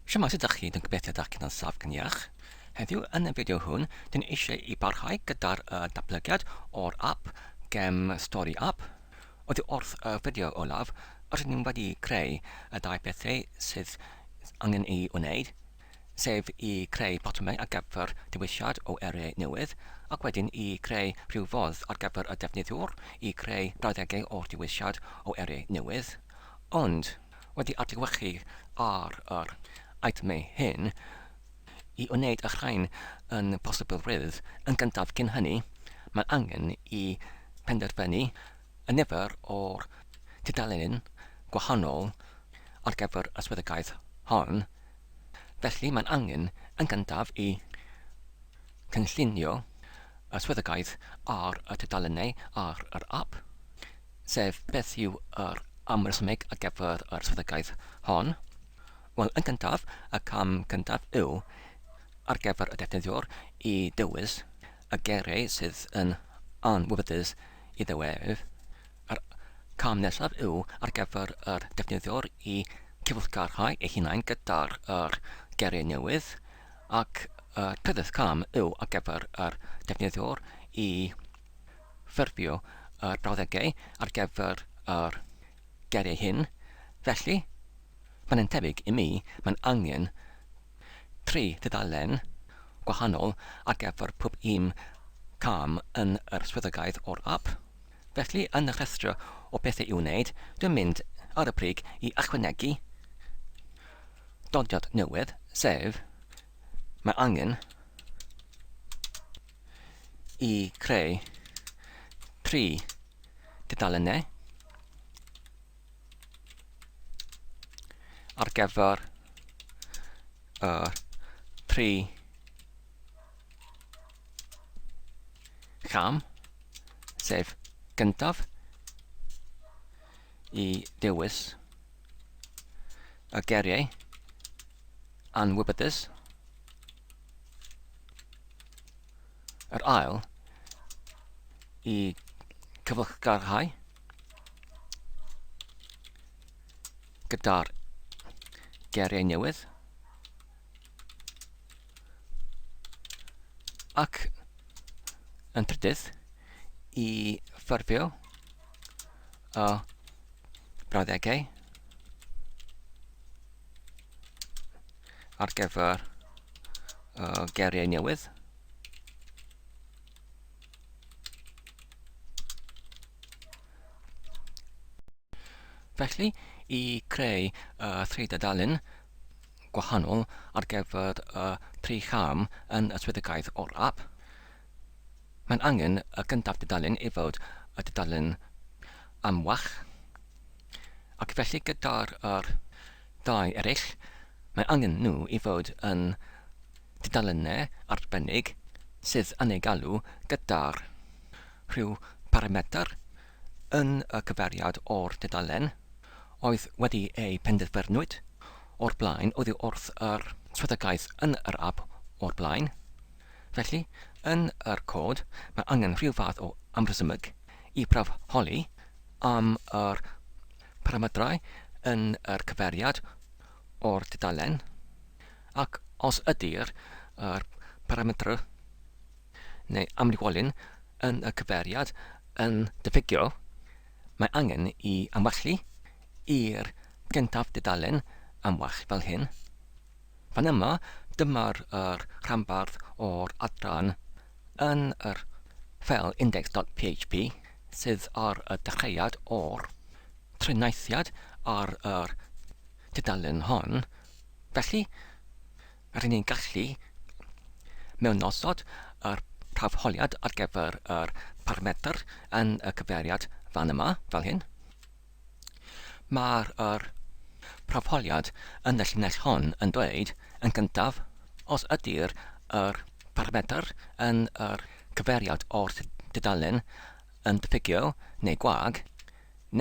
Shwmae sut dach chi, dwi'n gobeithio dach chi'n ansaf gan iach. Heddiw yn y fideo hwn, dyn eisiau i barhau gyda'r uh, datblygiad o'r app gem Story App. Oddi wrth y fideo olaf, rydyn ni'n wedi creu y dau bethau sydd angen ei wneud, sef i creu botymau ar gyfer dewisiad o erau newydd, ac wedyn i creu rhyw fodd ar gyfer y defnyddiwr i creu brawddegau o'r dewisiad o erau newydd. Ond, wedi adlewyrchu ar yr eitemau hyn i wneud y rhain yn bosibilrwydd. Yn gyntaf, cyn hynny, mae angen i benderfynu y nifer o'r tudalennau gwahanol ar gyfer y swyddogaeth hon. Felly, mae'n angen, yn gyntaf, i gynllunio y swyddogaeth ar y tudalennau ar yr ap. sef beth yw yr amresymeg ar gyfer yr strategaeth hon? Wel, yn gyntaf, y cam cyntaf yw ar gyfer y defnyddiwr i ddewis y geiriau sydd yn anwybydus i ddiwedd. Yr cam nesaf yw ar gyfer yr defnyddiwr i gyfeillgarhau ei hunain gyda'r yr geiriau newydd, ac y trydydd cam yw ar gyfer yr defnyddiwr i ffurfio y brawddegau ar gyfer yr geiriau hyn, felly, mae'n un tebyg i mi, mae'n angen tri thudalen gwahanol ar gyfer pob un cam yn yr swyddogaeth o'r ap. Felly, yn y rhestr o bethau i'w wneud, dwi'n mynd ar y brig i ychwanegu dodiad newydd, sef, mae angen i creu tri dudalennau ar gyfer y tri cham, sef gyntaf i dewis y geriau anwybydus, Yr ail i cyflgarhau gyda'r geriau newydd ac yn trydydd i ffurfio y brawddegau ar gyfer uh, geiriau newydd. Felly, i creu uh, tri dudalen gwahanol ar gyfer y uh, tri cham yn y swyddogaeth o'r app, mae'n angen y gyntaf dudalen i fod y dudalen amwach, ac felly gyda'r uh, Dau eraill, mae angen nhw i fod yn dudalennau arbennig sydd yn eu galw gyda rhyw barametr yn y cyfeiriad o'r dudalen oedd wedi ei penderfynwyd o'r blaen oddi wrth yr swyddogaeth yn yr ap o'r blaen. Felly, yn yr cod, mae angen rhyw fath o amrhysymeg i prawf holi am yr paramedrau yn yr cyfeiriad o'r dudalen, ac os ydy'r yr parametr neu amrywolyn yn y cyfeiriad yn diffygio, mae angen i amwallu i'r gyntaf dudalen amwalch fel hyn. Fan yma, dyma'r yr rhanbarth o'r adran yn yr ffeil index.php. sydd ar y dechreuad o'r triniaethiad ar yr tudalen hon, felly rŷn ni'n gallu mewnosod yr prawfholiad ar gyfer yr parametr yn y cyfeiriad fan yma, fel hyn. Mae'r yr propoliad yn y llinell hon yn dweud, yn gyntaf, os ydy'r yr parametr yn yr cyfeiriad o'r tudalen yn diffygio neu gwag,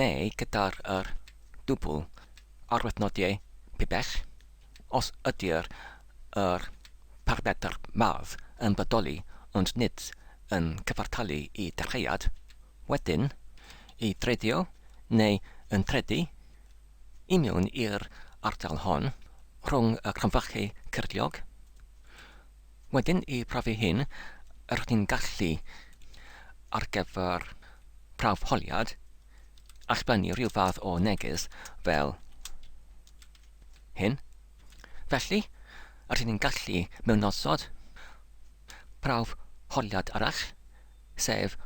neu gyda'r yr dwbl arwyddnodiau pibell, os ydy'r yr parametr mawr yn bodoli ond nid yn cyfartalu i dechreuad, Wedyn, i dredio, neu yn tredu, i mewn i'r ardal hon, rhwng y cromfachu cyrliog. Wedyn, i brofi hyn, rydych chi'n gallu, ar gyfer prawf holiad, allblennu rhyw fath o neges fel hyn. Felly, rydych chi'n gallu mewnosod prawf holiad arall sef,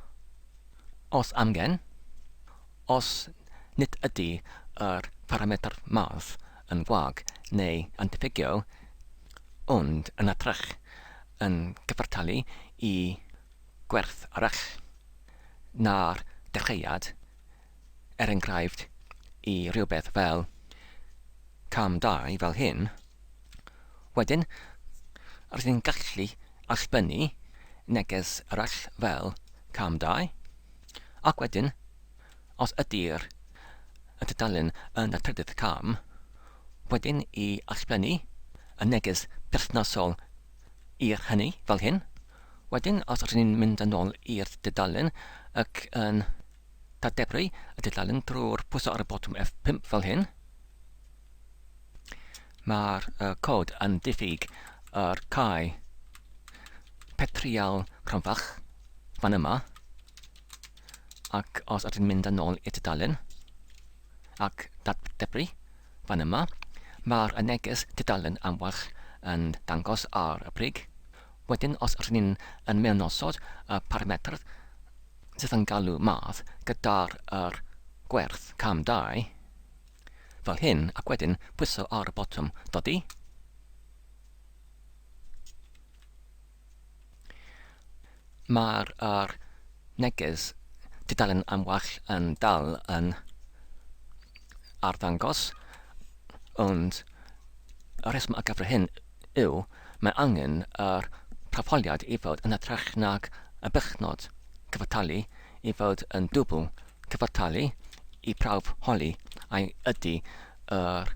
os amgen, os nid ydy yr parametr math yn wag neu yn diffygio, ond yn hytrach yn cyfartalu i gwerth arall na'r dechreuad, er enghraifft, i rywbeth fel cam dau fel hyn, wedyn rydyn ni'n gallu allbynnu neges arall fel cam dau, ac wedyn, os ydy'r y tudalen yn y trydydd cam, wedyn i allbynnu y neges perthnasol i'r hynny fel hyn, wedyn os rydyn ni'n mynd yn ôl i'r dudalen ac yn Ta debru y dudalen drwy'r pwyso ar y botwm F5 fel hyn. Mae'r uh, cod yn diffyg yr cae petrial rhanfach fan yma ac os ydyn mynd yn ôl i'r dudalen ac debru fan yma mae'r neges dudalen am warch yn dangos ar y brig. Wedyn os ydyn ni'n yn mewnosod y parametr sydd yn galw math gyda'r yr gwerth cam 2 fel hyn ac wedyn pwyso ar y botwm dodi. Mae'r yr neges tudalen am wall yn dal yn arddangos ond y rheswm ar gyfer hyn yw, mae angen yr tafoliad i fod yn hytrach nag y bychnod, cyfartalu i fod yn dwbl, cyfartalu i brawf holi a ydy yr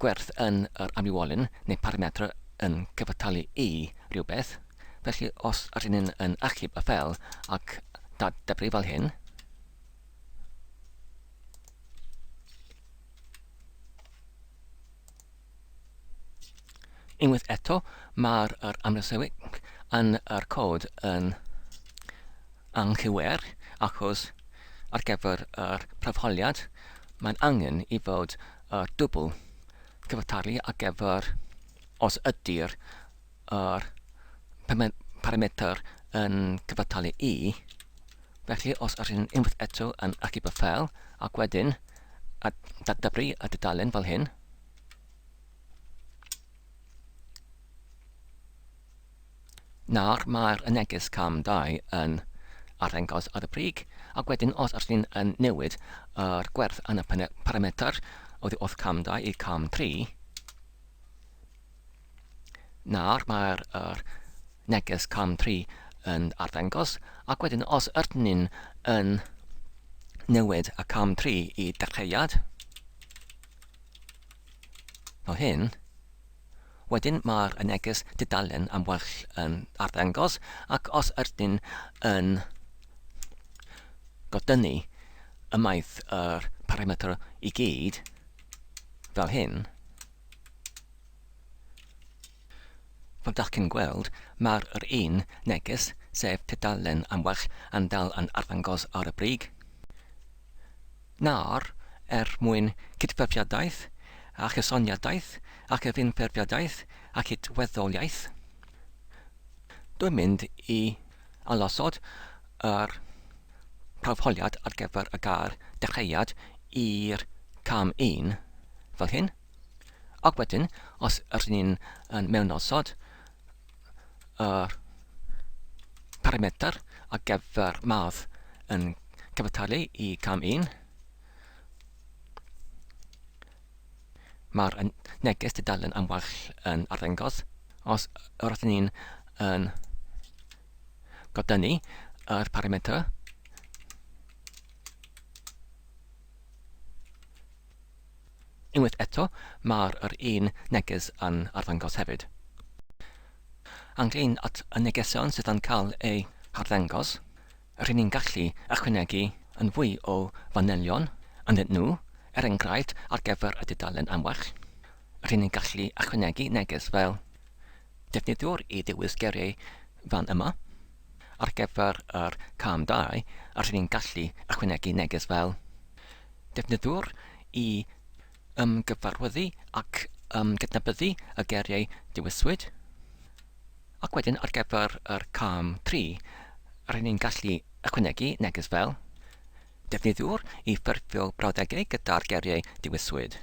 gwerth yn yr amrywiolyn neu parametr yn cyfartalu i rywbeth, felly os ydyn ni yn achub y fel ac dat debri fel hyn, Unwaith eto, mae'r yr amlesewig yn yr cod yn anghywir achos ar gyfer yr prawfholiad mae'n angen i fod yr dwbl cyfathtalu ar gyfer os ydy'r yr parametr yn cyfathtalu i felly os yr hyn unwaith eto yn archifo ffeil ac wedyn a datblygu y dudalen fel hyn Nawr, mae'r y neges cam 2 yn arddangos ar y brig, ac wedyn os ydych chi'n yn newid yr gwerth yn y parametr oddi wrth cam 2 i cam 3, nawr mae'r yr neges cam 3 yn arddangos ac wedyn os ydyn ni'n yn newid y cam 3 i dechreuad fel hyn Wedyn mae'r neges dudalen am well yn arddangos ac os ydyn yn godynnu ymaith yr parametr i gyd fel hyn, Fel dach chi'n gweld, mae'r yr un neges, sef tudalen am well yn dal yn arddangos ar y brig. Nawr, er mwyn cydfefiadaeth, a chysoniadaeth, a chyfunfeirfiadaeth, a chydweddoliaeth, dwi'n mynd i arosod yr prawfholiad ar gyfer y gair dechreuad i'r cam un, fel hyn. Ac wedyn, os rydyn ni'n yn mewnosod yr parametr ar gyfer math yn cyfartalu i cam 1, mae'r neges dudalen am wall yn arddangos. Os rydyn ni'n yn godynnu yr parametr, Unwaith eto, mae'r yr un neges yn arddangos hefyd. Ynglŷn at y negesion sydd yn cael eu harddangos, rŷn ni'n gallu ychwanegu yn fwy o fanylion ynddyn nhw, er enghraifft ar gyfer y dudalen am well, rŷn ni'n gallu ychwanegu neges fel Defnyddiwr y dewis geiriau fan yma. Ar gyfer yr cam dau, rydyn ni'n gallu ychwanegu neges fel Defnyddiwr i ymgyfarwyddu ac ymgydnabyddu y geiriau dewiswyd. Ac wedyn ar gyfer yr cam tri, rydyn ni'n gallu ychwanegu neges fel Defnyddiwr i ffurfio brawddegau gyda'r geiriau dewiswyd.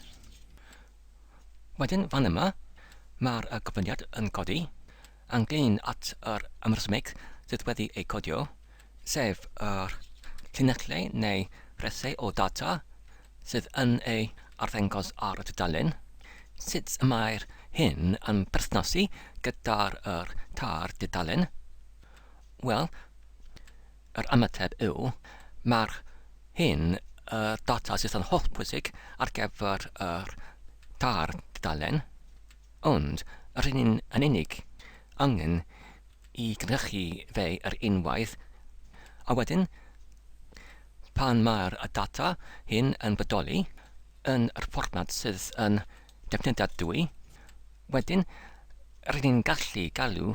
Wedyn fan yma, mae'r gofyniad yn codi, ymdrin at yr amrhysmeg sydd wedi ei codio, sef yr llinellau neu resau o ddata sydd yn ei arddangos ar y tudalen, sut y mae'r hyn yn perthnasu gyda'r yr tair dudalen. Wel, Yr ymateb yw, mae'r hyn y data sydd yn hollbwysig ar gyfer yr tair dudalen, ond yr hyn yn unig angen i gynhyrchu fe yr unwaith, a wedyn, pan mae'r data hyn yn bodoli yn yr fformat sydd yn defnyddiadwy, wedyn, rydyn ni'n gallu galw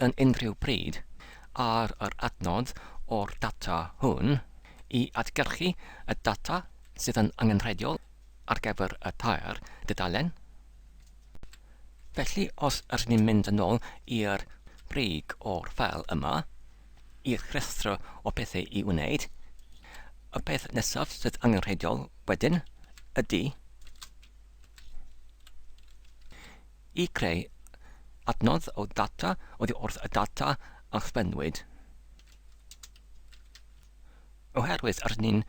yn unrhyw bryd ar yr adnodd o'r data hwn i adgyrchu y data sydd yn angenrheidiol ar gyfer y tair dudalen. Felly, os ydyn ni'n mynd yn ôl i'r brig o'r ffeil yma, i'r rhestr o bethau i wneud, y peth nesaf sydd angenrheidiol wedyn ydy i greu adnodd o ddata oddi wrth y data a chyflenwyd, oherwydd yr un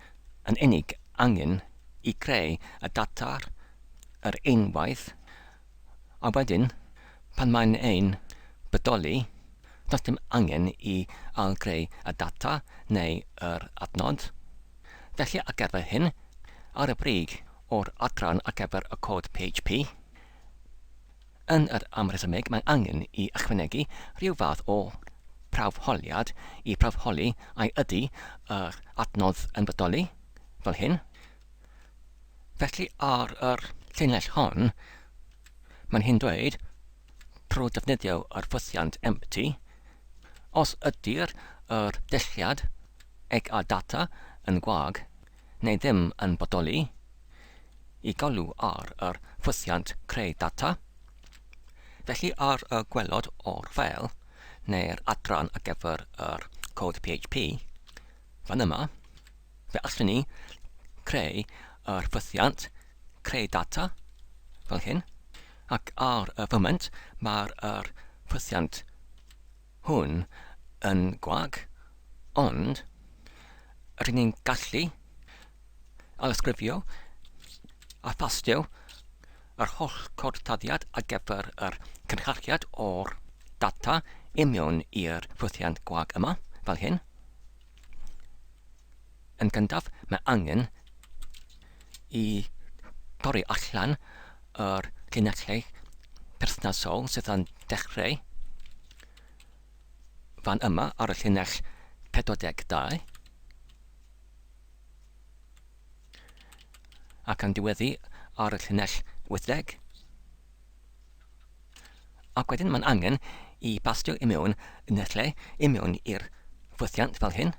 yn unig angen i greu y data yr un waith, a wedyn, pan mae'n ein bodoli, does dim angen i ail-greu y data neu yr adnodd. Felly ar gyfer hyn, ar y brig, o'r adran ar gyfer y cod PHP, Yn yr amrhesymeg mae angen i ychwanegu rhyw fath o prawf holiad i prawf holi ai ydy yr adnodd yn bodoli, fel hyn. Felly ar yr llinell hon mae'n hyn dweud trwy defnyddio yr ffwythiant empty os ydy'r yr dulliad eg a data yn gwag, neu ddim yn bodoli, i galw ar yr ffwythiant creu data. Felly ar y gwelod o'r ffeil, neu'r adran ar gyfer yr cod PHP, fan yma, fe allwn ni creu yr ffwythiant creu data fel hyn, ac ar y foment mae'r yr ffwythiant hwn yn gwag, ond rŷn ni'n gallu ailysgrifio a thastio yr holl gorthdyddiad ar gyfer yr cynhyrchiad o'r data i mewn i'r ffwythiant gwag yma, fel hyn. Yn gyntaf, mae angen i dorri allan yr llinellau perthnasol sydd yn dechreu fan yma ar y llinell 42 ac yn diweddu ar y llinell 80. Ac wedyn mae'n angen i bastio i mewn yn y lle, i mewn i'r ffwythiant fel hyn.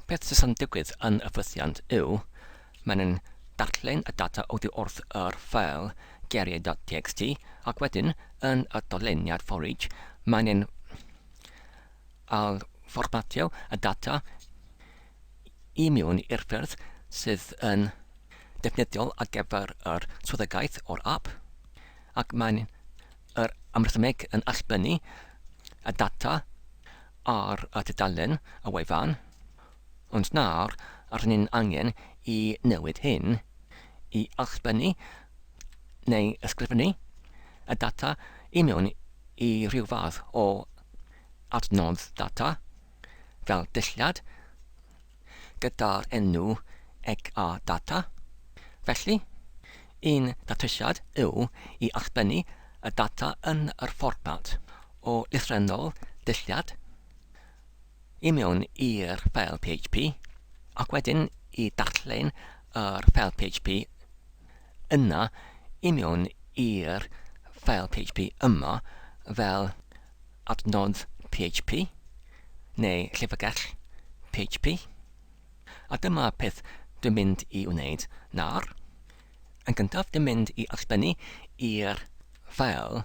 Peth sydd yn digwydd yn y ffwythiant yw, mae'n yn darllen y data oddi wrth yr ffeil geriau.txt ac wedyn yn y doleniad for each mae'n yn al fformatio y data i mewn i'r ffyrdd sydd yn ddefnyddiol ar gyfer yr swyddogaeth o'r ap, ac mae'n yr amrhymeg yn allbynnu y data ar y tudalen y wefan, ond nawr rŷn ni'n angen i newid hyn i allbynnu neu ysgrifennu y data i mewn i ryw fath o adnodd data. fel dulliad gyda'r enw ec a data. Felly, un datrysiad yw i allbynnu y data yn yr fformat o lythrennol dulliad i mewn i'r ffeil PHP, ac wedyn i darllen yr ffeil PHP yna i mewn i'r ffeil PHP yma fel adnodd PHP, neu llyfrgell PHP, a dyma peth dwi'n mynd i wneud nawr. Yn gyntaf, dwi'n mynd i ysblennu i'r ffeil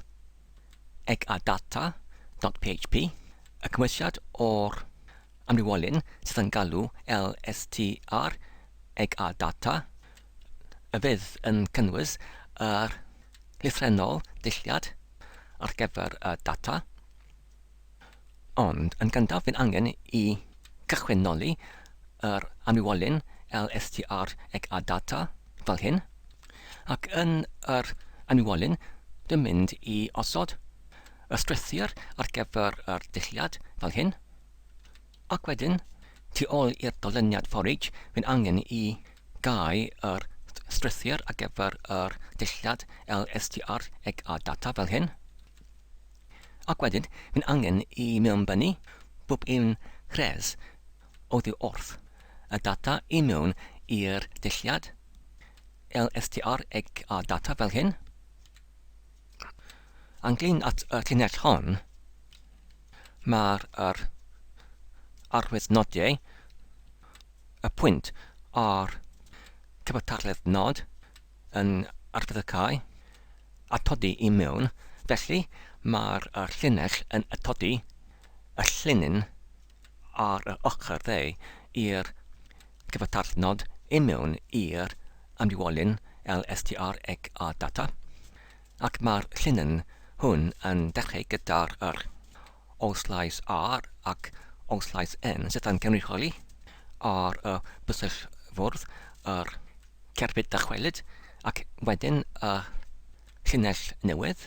egadata.php y cymwysiad o'r amrywiolyn sydd yn galw lstr egadata y bydd yn cynnwys yr llythrennol ddulliad ar gyfer y data, ond yn gyntaf bydd angen i gychwynnoli yr amrywiolyn LSTR eg a data fel hyn, ac yn yr amrywiolyn dwi'n mynd i osod y strwythur ar gyfer yr dulliad fel hyn. Ac wedyn, tu ôl i'r dolyniad forage, mae'n angen i gau yr strwythur ar gyfer yr dillad lstr eg a data fel hyn. Ac wedyn, mae'n angen i mewnbynnu bob un rhes oddi wrth y data i mewn i'r dillad lstr eg a data fel hyn. Ynglŷn at y llinell hon, mae'r yr arwydd nodiau, y pwynt ar cyfartaledd nod yn arfeddygau atodi i mewn, felly mae'r llinell yn atodi y llinyn ar yr ochr dde i'r cyfartallt nod i mewn i'r amrywiolyn LSTR eg a data, ac mae'r llinyn hwn yn dechrau gyda'r yr o sleis R ac o sleis N sydd yn cynrychioli ar y bysell fwrdd yr cerbyd dychwelyd ac wedyn y llinell newydd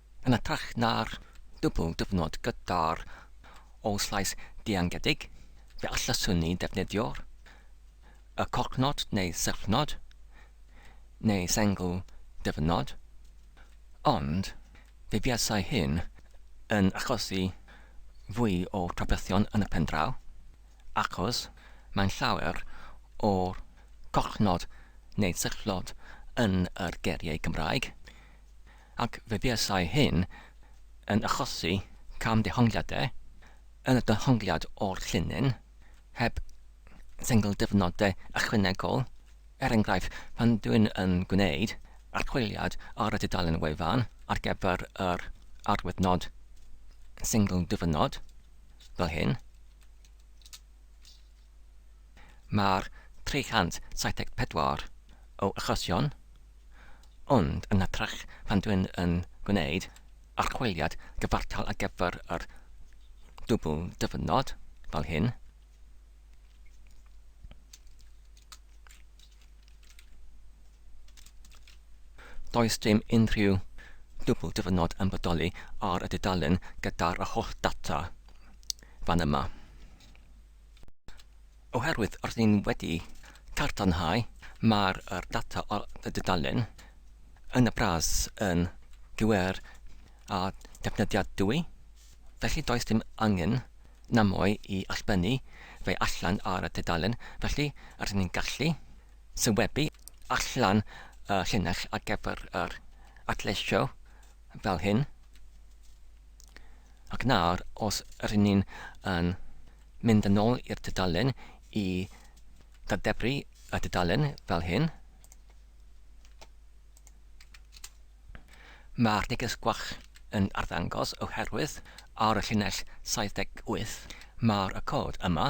Yn hytrach na'r dwbl dyfnod gyda'r ôl-slais diangedig, fe allaswn ni ddefnyddio'r y collnod neu syllnod, neu sengl dyfnod, ond fe fuasai hyn yn achosi fwy o drafferthion yn y pen draw, achos mae'n llawer o'r collnod neu syllnod yn yr geiriau Cymraeg. ac fe fuasai hyn yn achosi cam-dehongliadau yn y dehongliad o'r llinyn, heb sengl-dyfnodau ychwanegol, er enghraifft, pan dwy'n yn gwneud archwiliad ar y dudalen wefan ar gyfer yr arwyddnod sengl-dyfnod, fel hyn. Mae'r 374 o achosion, ond yn hytrach pan dwi'n yn gwneud archwiliad gyfartal ar gyfer yr dwbl dyfynod, fel hyn, does dim unrhyw dwbl dyfynod yn bodoli ar y dudalen gyda'r holl data fan yma. Oherwydd rydyn wedi tartanhau, mae'r data ar y dudalen yn y bras yn gywir a defnyddiadwy, felly does dim angen namoe i allbynnu fe allan ar y tudalen, felly rydyn ni'n gallu sylwebu allan y llinell ar gyfer yr adleisio fel hyn. Ac nawr, os rŷn ni'n yn mynd yn ôl i'r tudalen i ddadebru y tudalen fel hyn, mae'r neges gwach yn arddangos oherwydd ar y llinell 78 mae'r y cod yma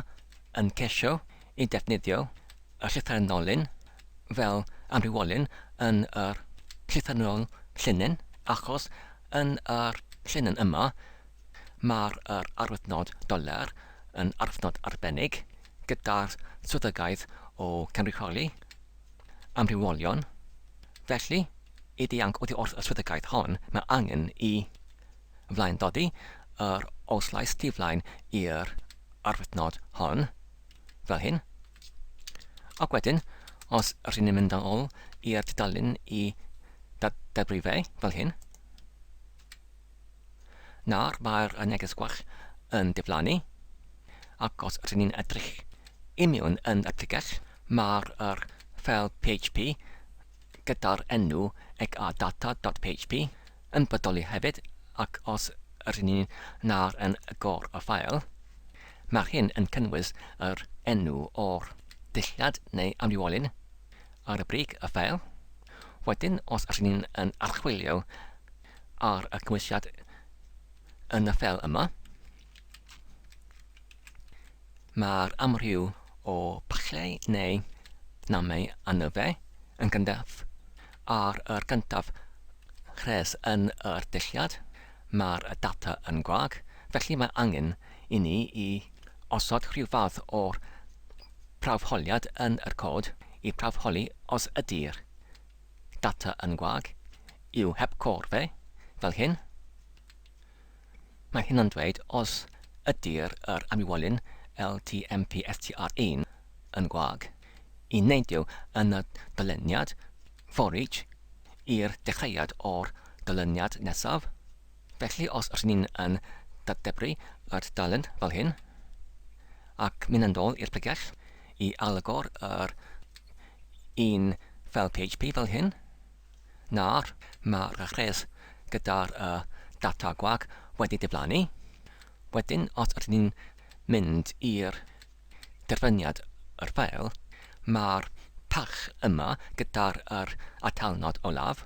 yn ceisio i ddefnyddio y llythyren ddolyn fel amrywiolyn yn yr llythrennol llinyn achos yn yr llinyn yma mae'r yr arwyddnod dollar yn arwyddnod arbennig gyda'r swyddogaeth o gynrychioli amrywiolion felly i ddianc oddi wrth y swyddogaeth hon mae angen i flaendodi yr oslais diflaen i'r arwyddnod hon fel hyn Ac wedyn, os rydyn ni'n mynd yn ôl i'r tudalen i dadbri fe, fel hyn, nawr mae'r neges gwach yn diflannu, ac os rydyn ni'n edrych i mewn yn y pregeth, mae'r er ffeil PHP gyda'r enw eg a data.php yn bodoli hefyd ac os rŷn ni'n nawr yn agor y ffael, mae hyn yn cynnwys yr enw o'r dulliad neu amrywiolyn ar y brig y ffael. Wedyn, os rŷn ni'n yn archwilio ar y cymwysiad yn y ffael yma, Mae'r amryw o bachleu neu namau annufe yn gyntaf ar yr gyntaf rhes yn yr dulliad. Mae'r data yn gwag, felly mae angen i ni i osod rhyw fath o prawfholiad yn yr cod i prawfholi os ydy'r data yn gwag, yw heb cor fe, fel hyn. Mae hyn yn dweud os ydy'r yr amlywolyn LTMPSTR1 yn gwag. Y nid yw yn y dyluniad, for each, i'r dechreuad o'r dyluniad nesaf. Felly os rŷn ni'n yn datebru y tudalen fel hyn, ac mynd yn ôl i'r pregell i ailagor yr un fel php fel hyn, Nawr, mae'r rhes gyda'r data gwag wedi diflannu. Wedyn, os ydyn ni'n mynd i'r derbyniad yr ffeil, mae'r pach yma gyda'r atalnod olaf.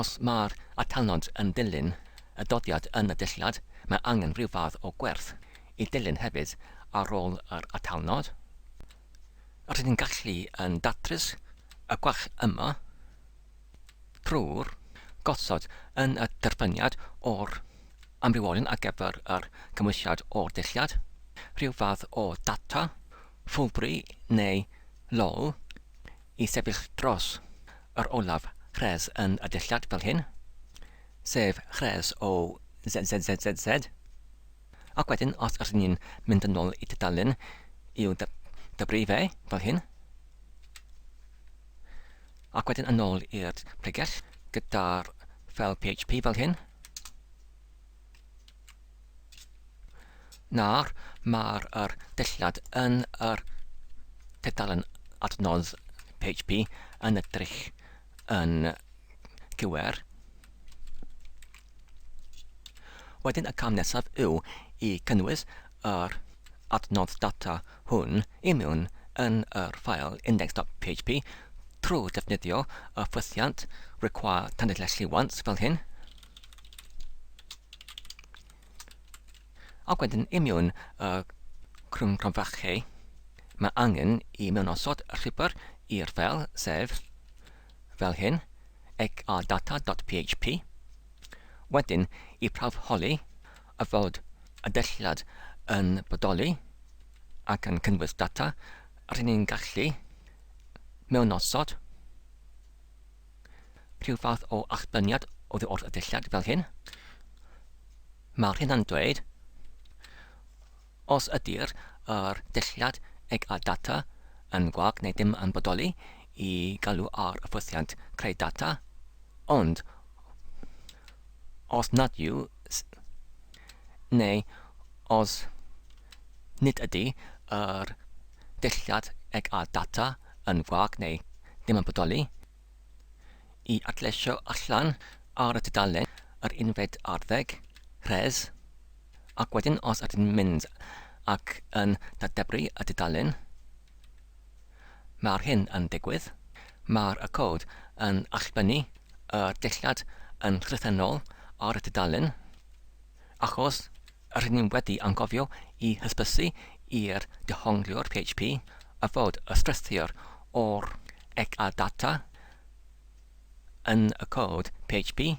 Os mae'r atalnod yn dilyn y dyddiad yn y dulliad, mae angen rhyw fath o gwerth i dilyn hefyd ar ôl yr atalnod. Rydyn gallu yn datrys y gwall yma drwy'r gosod yn y derbyniad o'r amrywiolyn ar gyfer yr cymwysiad o'r dulliad, rhyw fath o data, ffwlbri neu lol, i sefyll dros yr olaf rhes yn y dulliad fel hyn, sef rhes o ZZZZZ. Ac wedyn os ydyn ni'n mynd yn ôl i dudalen i'w dybri fe, fel hyn, ac wedyn yn ôl i'r pregell gyda'r ffeil PHP fel hyn, nawr mae'r er dillad yn yr er tudalen adnodd PHP yn edrych yn gywir. Wedyn y cam nesaf yw i cynnwys yr adnodd data hwn i mewn yn yr ffael index.php trwy ddefnyddio y ffwythiant require tanydlleslli once fel hyn. Ac wedyn i mewn y crwncronfachau, mae angen i mewnosod rhibr i'r ffeil, sef, fel hyn, xrdata.php. Wedyn, i prawf holi a fod y dylliad yn bodoli ac yn cynnwys data, rŷn ni'n gallu mewnosod rhyw fath o allbyniad oddi wrth y dylliad, fel hyn. Mae'r hyn yn dweud, os ydy'r yr dulliad eg a data yn gwag neu ddim yn bodoli i galw ar y ffwythiant creu data, ond os nad yw, neu os nid ydy yr dulliad eg a data yn gwag neu ddim yn bodoli, I adleisio allan ar y tudalen yr unfed arddeg, rhes, ac wedyn os ydyn mynd ac yn dadebru y tudalen, mae'r hyn yn digwydd, mae'r y cod yn allbynnu y dillad yn llythrennol ar y tudalen, Achos rŷn ni wedi anghofio i hysbysu i'r dehongliwr PHP a fod y strwythur o'r egg a data yn y cod PHP,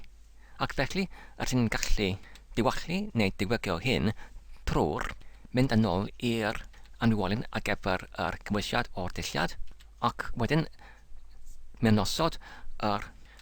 ac felly rŷn ni'n gallu diwallu neu diwygio hyn trwy'r mynd yn ôl i'r anniwolyn ar gyfer yr cymwysiad o'r dulliad, ac wedyn mewnosod yr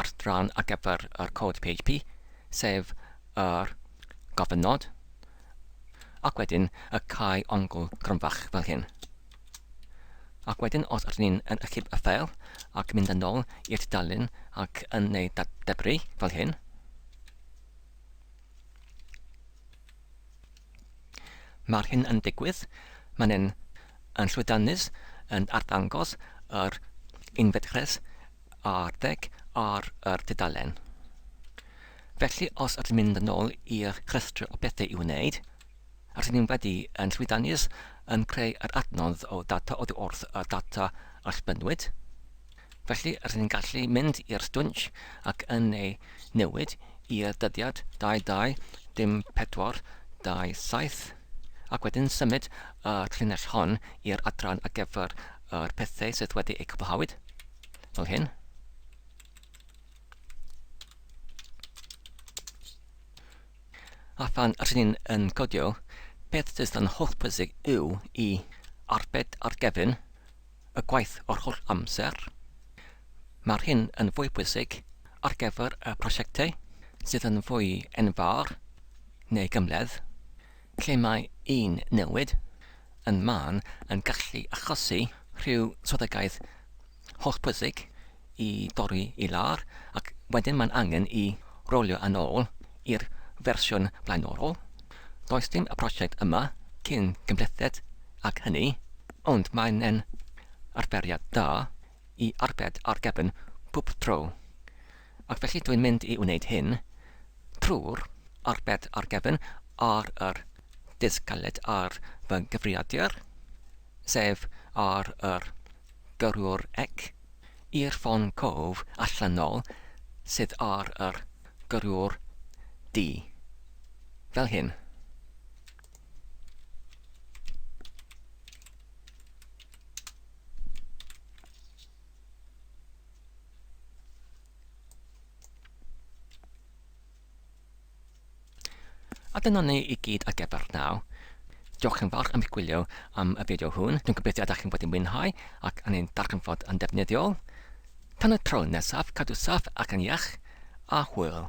adran ar gyfer yr cod PHP, sef yr gofyn nod, ac wedyn y cae ongl gronfach fel hyn. Ac wedyn os ydyn ni'n yn ychyb y ffeil ac mynd yn ôl i'r tudalen ac yn neu debru fel hyn, Mae'r hyn yn digwydd, mae'n yn, yn llwyddiannus yn arddangos yr unfedrus arddeg ar yr dudalen. Felly os ydyn mynd yn ôl i'r rhestr o bethau i'w wneud, rydyn ni'n wedi yn llwyddiannus yn creu yr adnodd o data oddi wrth y data allbynnwyd, felly rydyn ni'n gallu mynd i'r stwnc ac yn ei newid i'r dyddiad 22 dim 4 27 ac wedyn symud y llinell hon i'r adran ar gyfer yr pethau sydd wedi eu cwblhawyd, fel hyn. A phan rydyn ni'n yn codio, beth sydd yn holl bwysig yw i arbed ar gefn y gwaith o'r holl amser. Mae'r hyn yn fwy bwysig ar gyfer y prosiectau sydd yn fwy enfawr neu gymledd, lle mae un newid yn mân yn gallu achosi rhyw swyddogaeth hollbwysig i dorri i lawr ac wedyn mae'n angen i rowlio yn ôl i'r fersiwn blaenorol. Does dim y prosiect yma cyn cymhlethiad ac hynny, ond mae'n e'n arferiad da i arbed ar gefn pwb tro. Ac felly dwi'n mynd i wneud hyn trwy'r arbed ar gefn ar yr disg galed ar fy nghyfrifiadur, sef ar yr gyrrwr ec, i'r ffon cof allanol sydd ar yr gyrrwr D. Fel hyn. A dyna ni i gyd ar gyfer naw. Diolch yn fawr am eich gwylio am y fideo hwn. Dwi'n gobeithio ydych chi'n bod yn mwynhau ac yn ein darganfod yn defnyddiol. Tan y tro nesaf, cadw saff ac yn iach, a hwyl!